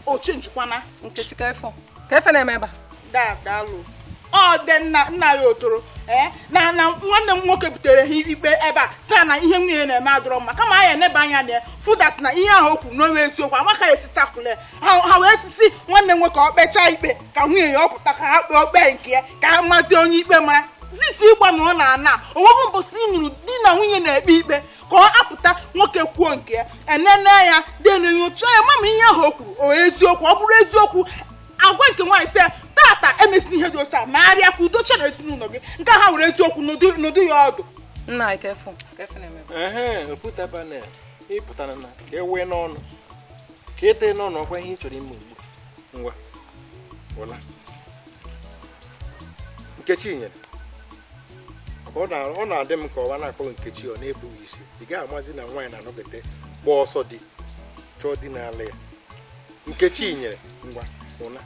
oche njikwana nkechi kee ife kee ife na-eme ebe a daalụ ọ dị nna nna ya ọ dịrọ eh, na na nwanne m nwoke butere ha ikpe ebe a sị na ihe nwunye na-eme adịrọ mma kama anyị enebe anya na ya fụ that na ihe ahụ o kwuru na o nwere eziokwu a ma ka e si tackle ha ha wee sịzi nwanne nwoke ọ kpechaa ikpe ka nwunye ya ọ pụta ka ha kpee ọ kpee nke ya ka ha mazie onye ikpe mara since mgbe na ọ na-ana o nweghị mbọsị ị nụrụ di na nwunye na-ekpe ikpe ka ọ apụta nwoke kwuo nke ya e nenee ya then e nyochaa ya mara ma ihe ahụ o kwuru ọ eziokwu ọ bụrụ eziokwu a gwa nke nwaanyị sị ya, tata emesina ihe dị otu a megharịa ka udo chịa n'ezinụlọ gị nke a ha were eziokwu n'ụdị- n'ụdị ya ọdụ nna anyị kee ife kee ife na-eme ehe oputa panel ị pụtara na ka e wee n'ọnụ ka e tinye ọnụ ọ kwa ihe ị chọrọ ime ugbu ngwa ụla nkechinyere ọ na-adị m ka nwa a na-akpọ nkechi ọ na-ebughị isi ị gaghị amazi na nwaanyị na-anọkata gbaa ọsọ di chọọ di n'ala ya nkechinyere ngwa ụla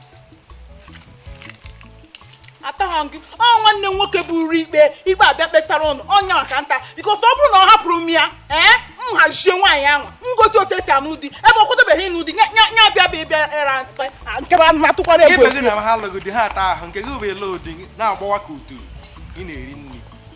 ataghị gị ọ nwanne m nwoke buru ikpe ikpe abịa kpesara ụnụ onye a ka m ta because ọ bụrụ na ọ hapụrụ m ya ee m hazie nwaanyị ahụ m gosi otu e si anụ di ebe ọ kwadobeghị ịnụ di nya bịa bịa bịa ị ra nsị nke bụ anụ atụkwara egwu gị na ha alụghị di ha ata ahụ nke gị bụ ele odi na-agbawa ka utu ị na-eri nri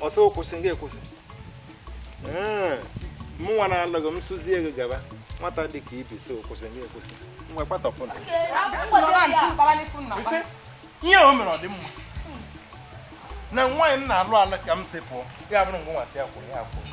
ọ sị kwụsị ị ga-akwụsị mụnwa na-alụ gị m sịzie gị gaba nwata dị ka ibi sị kwụsị ị ga-akwụsị nwa kpatọpụ na ihe o mere ọ dị mma na nwaanyị m na-alụ ala ka m si pụọ ya bụrụ ngwa nwasị ya kwụrụ ya kwụrụ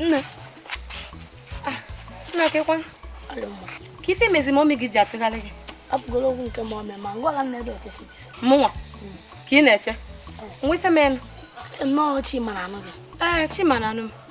nne ah, nna kekwa ka ife mezi ma omi gị ji achụgharị gị apụgoro okwu nke ma ome ma ngwala nne dị ọtụtụ mụnwa hmm. ka ị na-eche nwa ife menụ nnọọ chima na anụ gị ee eh, chima na anụ m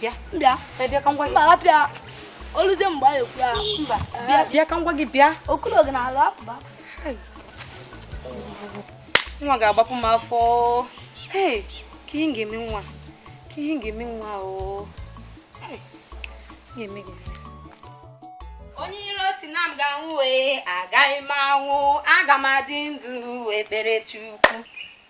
bịa bịa bịa ka m gwa gị mba bịa oluze mgbe anyị ekwu ya mba bịa bịa ka m gwa gị bịa okulu oge na ala apụba nwa ga-agbapụ m afọ ee ka ihe ga-eme nwa ka ihe ga-eme nwa ọ ga-eme gị onye iro sị na m ga-anwụ wee agaghị m anwụ aga m adị ndụ wee kpere Chukwu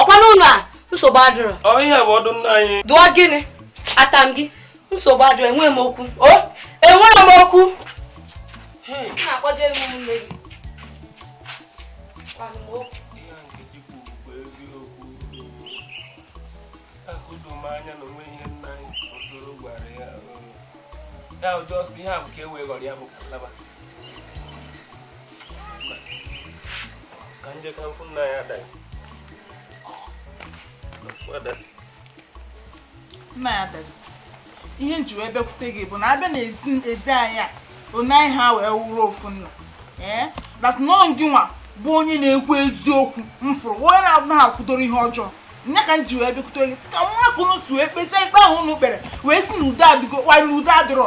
ọkwa n'ụlọ a nsogbu adịrọ ihe bụ ọdụ nna anyị dụọ gịnị ata m gị nsogbu adịrọ enweghị m okwu o enweghị m okwu na-akpọje nne gị ya ụdị ọsọ ihe a bụ ka e wee ghọrọ ya bụ ka ihe m ji wee bịakwute gị bụ na a bịa na ezi anyị a ọ naghị ha wee wụrụ ofu nna ee but na ọ gịnwa bụ onye na-ekwu eziokwu m fụrụ onye na-abụ ha kwudoro ihe ọjọọ nya ka m ji wee bịakwute gị sị ka nwa ka ụnụ si wee kpechaa ikpe ahụ ụnụ kpere wee sị na udo adịgo wanyị udo adịrọ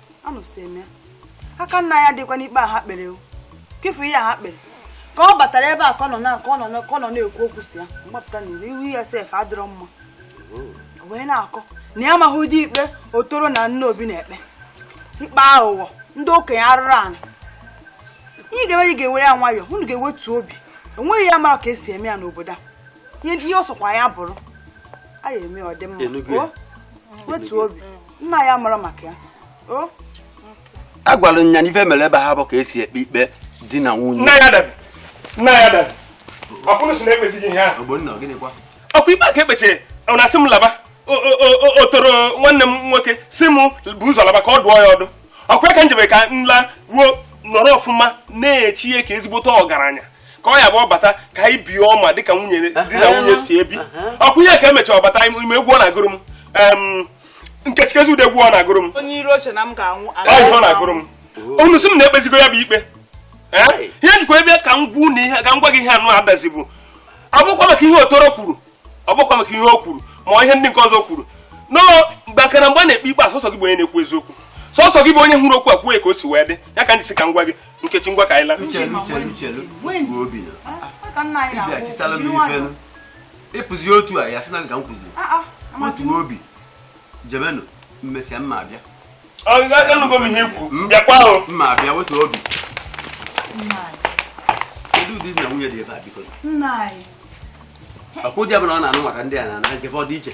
anụsịme aka nna ya dịkwa n'ikpe a ha kpere o kefu ihe a ha kpere ka ọ batara ebe a ka ọ nọ na ka ọ nọ ka ọ nọ na-ekwu okwu sị ya mgbapụta n'iru ihu ya sef adịrọ mma o wee na-akọ na ya amaghị ụdị ikpe otoro na nna obi na-ekpe ikpe aghụghọ ndị okenye arụrụ ala ihe ga-eme ị ga-ewere ya nwayọọ unu ga-ewetu obi enweghị ya mara ka esi eme ya n'obodo a ihe ihe ọ sọkwa ya bụrụ a ya eme ọ dị mma ị nụgo ya. o wetuo obi nna ya mara maka ya o a gwara nya na ife mere ebe ahụ bụ ka esi ekpe ikpe di na nwunye nna ya dazi nna ya dazi ọkwụnụ sị na ekpezighị ihe ahụ ogbonna gịnịkwa ọkwa ikpe a ka e kpechiri ọ na-asị m laba O- o- o- o- otoro nwanne m nwoke sị m bu ụzọ laba ka ọ dụọ ya ọdụ ọkwa ya ka m jebe ka m laruo nọrọ ọfụma na-eche ya ka ezigbote ọgaranya ka ọ ya-abụ ọ bata ka anyị bie ọma dịka nwunye di na nwunye si ebi ọkwa ihe ka emechara ọ bata ị ma egwu ọ na-agụrụ m em, nkechi kezi ude gwuo na-agụrụ m onye iro oche na m ga-anwụ ọ ọ na-agụrụ m unu sị m na ekpezigo ya bụ ikpe ihe njikwa ebe ka m gwa unu ihe ka m gwa gị ihe anụ adazi bụ ọ bụkwa maka ihe otoro kwuru ọ bụkwa maka ihe o kwuru ma ihe ndị nke ọzọ kwuru no mgbe nke na mgbe a na-ekpe ikpe ọ sọsọ gị bụ onye na-ekwu eziokwu sọsọ gị bụ onye hụrụ okwu a kwuo ka o si wee dị ya ka ndị si ka m gwa gị nkechi ngwa ka anyị laa ịpụzi otu a ya sị na nka m kwụziri ah, ah, wetu obi jebenụ mmesịa mma abịa anụgo m ihe i kwu hmm? bịakwa ahụ mma abịa wetu obi kedu ụdị di na nwunye dị ebe a biko nna anyị okwu di ọbụla ọ na-anụ maka ndị a na-ana nke fa dị iche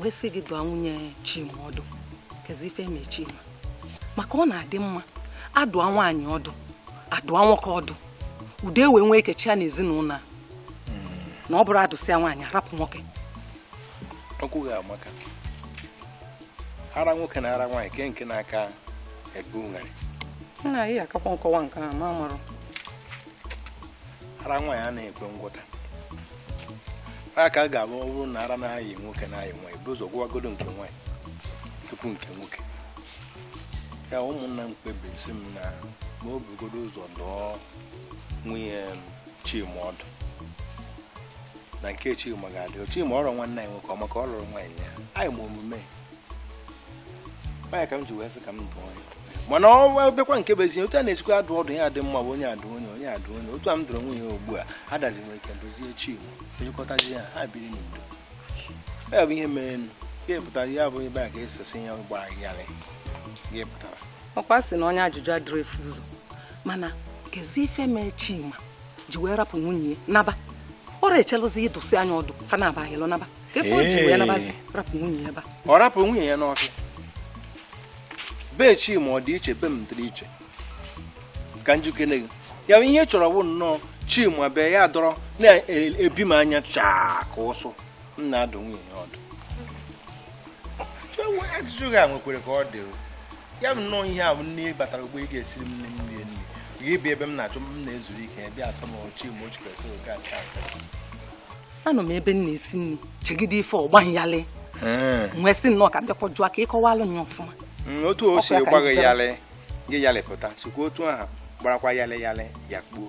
wee sị gị dụọ nwunye Chima ọdụ kezi ife eme Chima maka ọ na-adị mma adụọ nwaanyị ọdụ adụọ nwoke ọdụ udo wee nwee ike chịa na ezinụlọ a na ọ bụrụ adụsịa nwaanyị arapụ nwoke ọkwa maka ara nwoke na ara nwaanyị ke nke na-aka ebe ụgharị nna ya akakwa nkọwa nke a ma marụ ara nwaanyị a na-ekwe ngwọta a ka ga-abụ ọ bụrụ na ara na-ayị nwoke na-ayị nwaanyị ebu ụzọ gwọwagodu nke nwaanyị tupu nke nwoke ya ụmụnna m kpebiri sị m na m bugodu ụzọ dụọ nwunye chima ọdụ na nke chima ga-adụ chima ọdụ nwanne anyị nwoke ọ maka ọ lụrụ nwaanyị ya anyị ma omume ya ka m ji wee sị ka m dụọ ya mana ọ bịakwa nke bụ ezinye otu a na-esikwa adụ ọdụ ya adị mma bụ onye adụ onye onye adụ onye otu a m dụrụ onwe ya ugbu a adazi nwere ike dozie chi ejikọtazi ya ha biri n'udo ya bụ ihe mere nụ ya pụtara ya bụ ebe a ga-esesi ya gbara yarị ya pụtara ọkwa sị na onye ajụjụ adịrọ efu ụzọ mana kezi ife mee chima ji wee rapụ nwunye ya naba ọ rọ echelụzi ị dụsịa ya ọdụ fa naabọ yịlụ naba ọ rapụ nwunye ya n'ọfịa be chima ọ dị iche be m dịrị iche ka m jikere gị ya ihe ị chọrọ bụ nnọọ chima bịa nọrọ na be m anya chaa ka ụsụ m na-adụ nwunye ya ọdụ ajụjụ gị a nwekwere ka ọ dị ya bụ nnọọ ihe a bụ na m batara ugbua ị ga-esiri m nri m rie nri gị bịa ebe m na-achọ m na-ezuru ike bịa asa m ochi m ochi kwesịrị oke aka anọ m ebe m na-esi nri chegide ife ọ gba m yalị m wee sị nnọọ ka m bịakwa jụọ ka ị kọwalụ ya ọfụma mm, otu o si gba gị yalị gị yalịpụta sikwa otu ahụ gbarakwa yalị yalị ya kpuo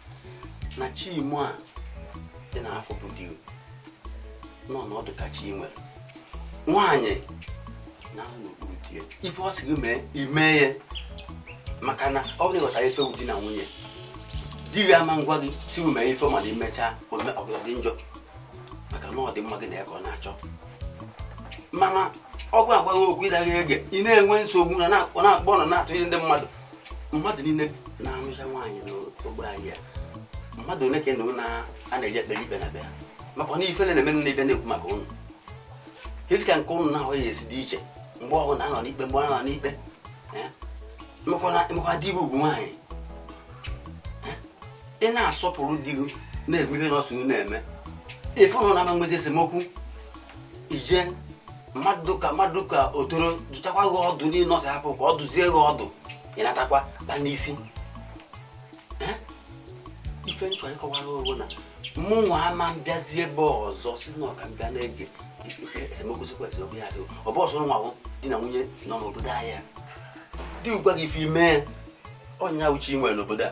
na chimo a dị n'afọ bụ di nọ n'ọdụ ka chi nwere nwaanyị na n'okpuru di ya ife ọ sị gị mee i mee ya maka na ọ bụrụ ịghọtara ife di na nwunye di gị ama agwa gị sị gị mee ife mana i mechaa ọ ga-adị gị njọ maka na ọdịmma gị na ya ka ọ na-achọ mana ọ bụ agwa gị okwu ị naghị ege ị na-enwe nsogbu na na-akpọ na na-atụnye ndị mmadụ mmadụ niile na-anụcha nwaanyị n'ogbe anyị a mmadụ ole ka ị nụ a na-eje ekpere ikpe na be ha maka na ifele na-eme na ibe na-ekwu maka ụnụ kezi ka nke ụnụ na-ahụ ya esi dị iche mgbe ọbụna a nọ n'ikpe mgbe ọ nọ n'ikpe emekwa di bụ ugwu nwaanyị ị na-asọpụrụ di gị na-ekwu ihe n'ọsụ na-eme ị fụ na ụnụ ama nwezi esemokwu ije mmadụ ka mmadụ ka o toro dụchakwa gị ọdụ niile ọsọ hapụ ka ọ dụzie gị ọdụ ị natakwa ba n'isi Eh? ife m chọ ịkọwara ụnụ na mụnwa ama mbịazi ebe ọzọ sị na ọ ka m bịa na-ege esemokwu sikwa esemokwu ya asị ọ bụ sọ ụnụwa bụ di na nwunye nọ n'obodo anyị a. di gwa gị ife i mee ọ ya bụ chi i nwere n'obodo a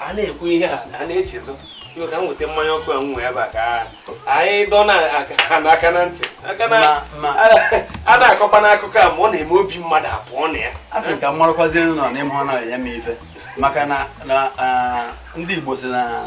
a na-ekwu ihe a a na-echezọ iwe ka m weta mmanya ọkụ a m nwee ebe a ka anyị dọ na aka na aka na ntị aka na Ma- ma- a- a na-akọkwa n'akụkọ a ma ọ na-eme obi mmadụ apụọ na ya a sị ka m marakwazie nụ na n'ime ọ na-enye m ife maka na na ah, ndị Igbo si na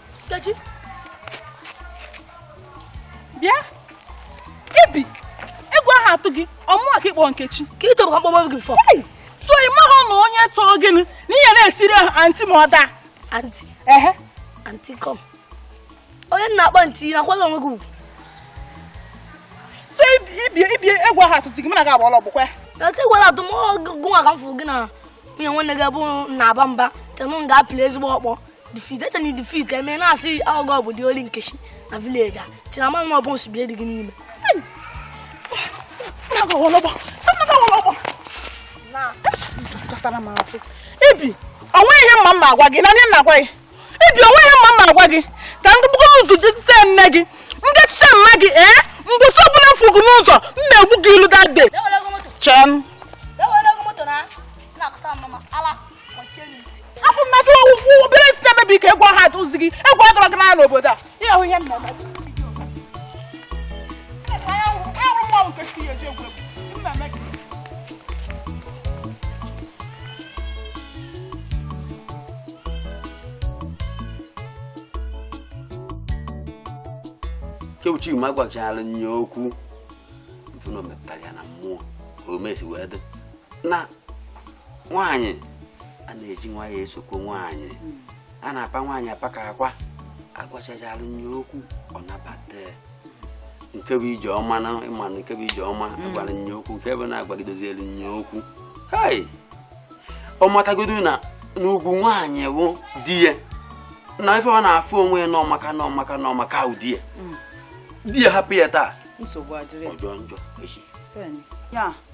Nkechi bịa ebe a egwu aha atụ gị ọ mụwa ka ị kpọ Nkechi ka ị chọbụ ka m kpọgbo gị fọ so ị maghị na onye tọọ gị na ị ya na-asị ya anti ma ọ daa anti ehe anti kọm onye na-akpọ anti na-akwado onwe gị ugwu so ibie ibie egwu aha atụzi gị mụ na gị agbala ọgbọ kwa na ti gwara atụ m gụnwa ka m fụrụ gị na nwunye nwanne gị bụ na-aba mba tenụ m ga-apịla ezigbo ọkpọ defeated and defeat eme eh, na-asị ọ gị bụ the only Nkechi na village a si na mmanwụ ọ bụ nsogbu dị gị n'ime bịa o nwe ihe m ama agwa gị na onye nna agwa gị bịa o nwe ihe m ama agwa gị ka ndị bụkọ ụzọ jitise nne gị ndị chịcha mma gị ee eh? mbọsị ọbụla m fụ gị n'ụzọ m na-egbu gị ilu dade chem afọ mmadụ ọwụwụ obere isi na-emebi ka egwu aha atụzi gị egwu agọrọ gị n'ala obodo a ihe ahụ ihe m na-eme ịrụ mmanwụ nke chi ya eji egwu egwu m na-eme gị kewuchi ma gwachara nye okwu mfụna omepụtara ya na mmụọ ka o mesi wee dị na nwaanyị a na-eji nwayọọ esokwa nwaanyị a na-apa nwaanyị apa ka akwa a gwachara nye okwu ọ nabata nke bụ ijeọma na ịma na nke bụ ijeọma mm. a gwara nye okwu nke bụ na a gwadozielu nye okwu hei ọ matagodu na na ugwu nwaanyị bụ di ya na ife ọ na-afụ onwe ya na ọ maka na ọ maka na ọ maka bụ di ya mm. di ya hapụ ya taa ọ jọọ njọ echi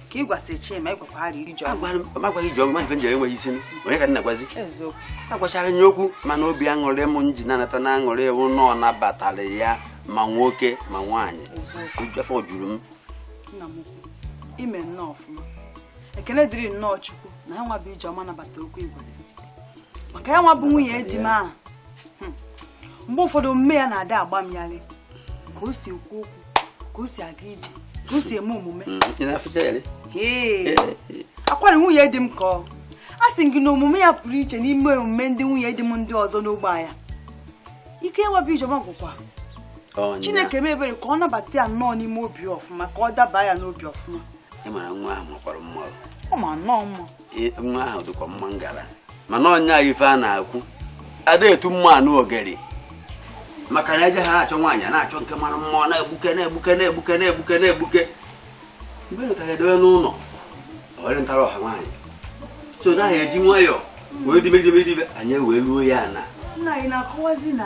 ka ị gwasị Chima ị gwakwara ijeọma agwaghị ijeọma ife m jere enweghị isi onye ka m na-agwazi a gwachara nye okwu mana obi aṅụrị m ji na-anata n'aṅụrị wụ na ọ nabatara ya ma nwoke ma nwaanyị afọ juru m ime nnọọ ọfụma ekele dịrị nnọọ chukwu na ya nwa bụ ijeọma nabata okwu igwe maka ya nwa bụ nwunye di m ahụ hmm. mgbe ụfọdụ omume ya na-adị agba m yalị ka o si ekwu okwu ka o si aga ije ka o si eme omume mm, akwara nwunye di m ka a sị gị na omume ya pụrụ iche n'ime omume ndị nwunye di m ndị ọzọ n'ogbe ya ike ya nwa bụ ijeọma gwụkwa chineke mee ebere ka ọ nabata ya nnọọ n'ime obi ọfụma ka ọ daba ya n'obi ọfụma ọ ma nnọọ mma nwa ahụ dịkwa mma ngara mana ọ nya ife a na-ekwu ada etu mma anụ ogeri maka na e je ha na-achọ nwaanyị na-achọ nke mara mma ọ na-egbuke na-egbuke na-egbuke na-egbuke na-egbuke mgbe nụtara edowe n'ụlọ ọrị ntara ọha nwaanyị so na ahụ eji nwayọọ wee dimegidemedibe anyị wee ruo ya na nna anyị na-akọwazi na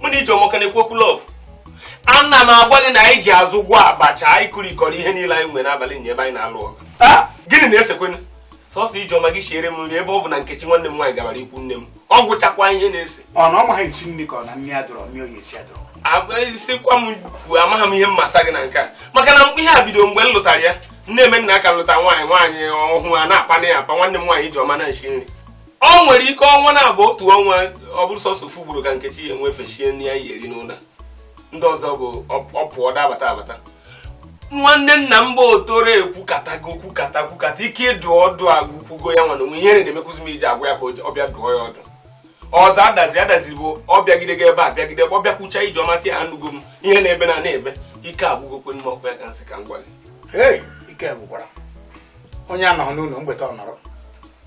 mụ na ijeọma ka na-ekwu okwu love ana m agwa gị na anyị ji azụ gwọọ abacha anyị kụrikọrọ ihe niile anyị nwere n'abalị nye ebe anyị na-alụ ọgụ gịnị na-esekwanụ sọsọ ijeọma jee siere m nri ebe ọ bụ na nkechi nwanne m nwaanyị gabara ikwu nne m ọ gwụchakwa ihe na-ese ọ na ọ maghị esi nri ka ọ na nri adọrọ nri ọ ya-esi adọrọ agwasikwa m kwuo amaghị m ihe m ga-asa gị na nke a maka na ihe a bido mgbe m lụtara ya m na-eme na a ka lụta nwaanyị nwaanyị ọhụụ a na-akpana ya akpa nwanne m nwaanyị ijeọma na-esi nri ọ nwere ike ọnwa na-abụ otu ọnwa ọ bụrụ sọsọ ofu ugboro ka nkechi ya-enwe efe sie nri a ya-eri n'ụlọ ndị ọzọ bụ ọ pụọ ọ da-abata abata nwanne nna m bụ otoro ekwukatago kwukata kwukata ike ịdụ ọdụ agwụkwugo ya mụ nwa n'onwe m ihere na-emekwuzi m ije agwa ya ka ọ bịa dụọ ya ọdụ ọzọ adazi adazi bụ ọ bịagide gị ebe a bịagide ọ bịakwucha ijeọma asị ya anụgo m ihe na-ebe na na-ebe ike agwụgokwanụ m ọ kwa ya ka m sị ka m gwa gị ike gwụkwara onye anọghị n'ụlọ mgbede ọ nọrọ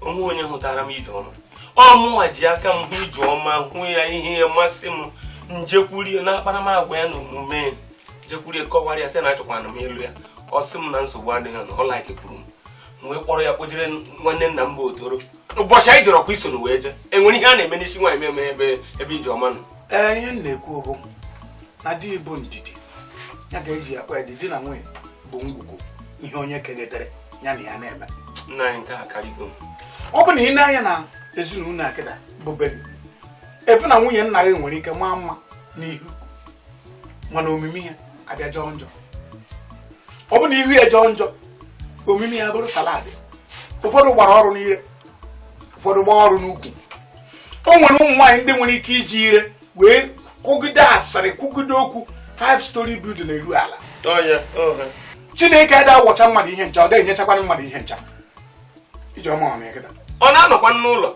o nwee onye hụtara m ijeọma ọ mụnwa ji aka m hụ ijeọma hụ ya ihe masị m m jekwuru ya na akparamagwa ya na omume m jekwuru ya kọwara ya sị na achọkwanụ m ịlụ ya ọ sị m na nsogbu adịghị na ọ likekwuru m wee kpọrọ ya kpọjere nwanne nna m bụ otoro ụbọchị anyị jere ọ kwa i sonụ wee jee e nwere ihe a na-eme n'isi nwaanyị meme ebe ebe ijeọma nọ ee ihe m na-ekwu bụ na di bụ ndidi ya ga-eji akpa ya dị di na nwunye bụ ngwugwu ihe onye kenetere ya na ya na-eme nna anyị nke a karịgo m ọ bụ na i nee anya na ezinụlọ a kịta bụ beri efu na nwunye nna gị nwere ike maa mma n'ihu mana omume ya abịa jọọ njọ ọ bụ na ihu ya jọọ njọ omume ya bụrụ salad ụfọdụ gbara ọrụ n'ire ụfọdụ gbaa ọrụ n'ukwu o nwere ụmụ nwaanyị ndị nwere ike iji ire wee kwugide asịrị kwugide okwu five storey building eruo ala chineke ada awọcha mmadụ ihe ncha ọ gaghị enyechakwana mmadụ ihe ncha ijeọma ọ na-eketa ọ na-anọkwa n'ụlọ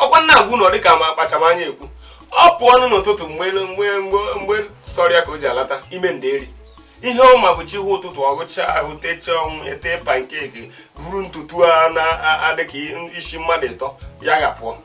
ọkwa m na-agwa unu dịka ma akpacham anya ekwu ọ pụọnụ n'ụtụtụ mgbe mgbe mgbe mgbe sọrọ ya ka o ji alata ime nderi ihe ọ ma bụ chi hụ ụtụtụ ọ ghụchaa ahụ techaa ọnụ ete pancake buru ntutu a na-adịka isi mmadụ ịtọ ya ga pụọ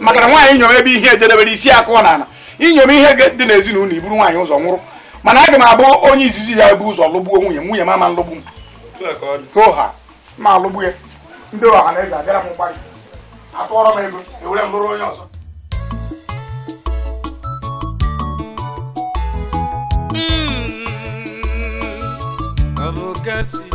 maka na nwaanyị nyom ebe ihe ejedebere isi akụọ n'ala inyom ihe dị n'ezinụlọ i buru nwaanyị ụzọ nwụrụ mana aga m abụ onye izizi ya-ebu ụzọ lụgbuo nwunye m nwunye m ama nlụgbu m oha ma alụgbu ya ndị ọha na eze abịara m mgbarụ atụọrọ m ego ewere m lụrụ onye ọzọ Abogasi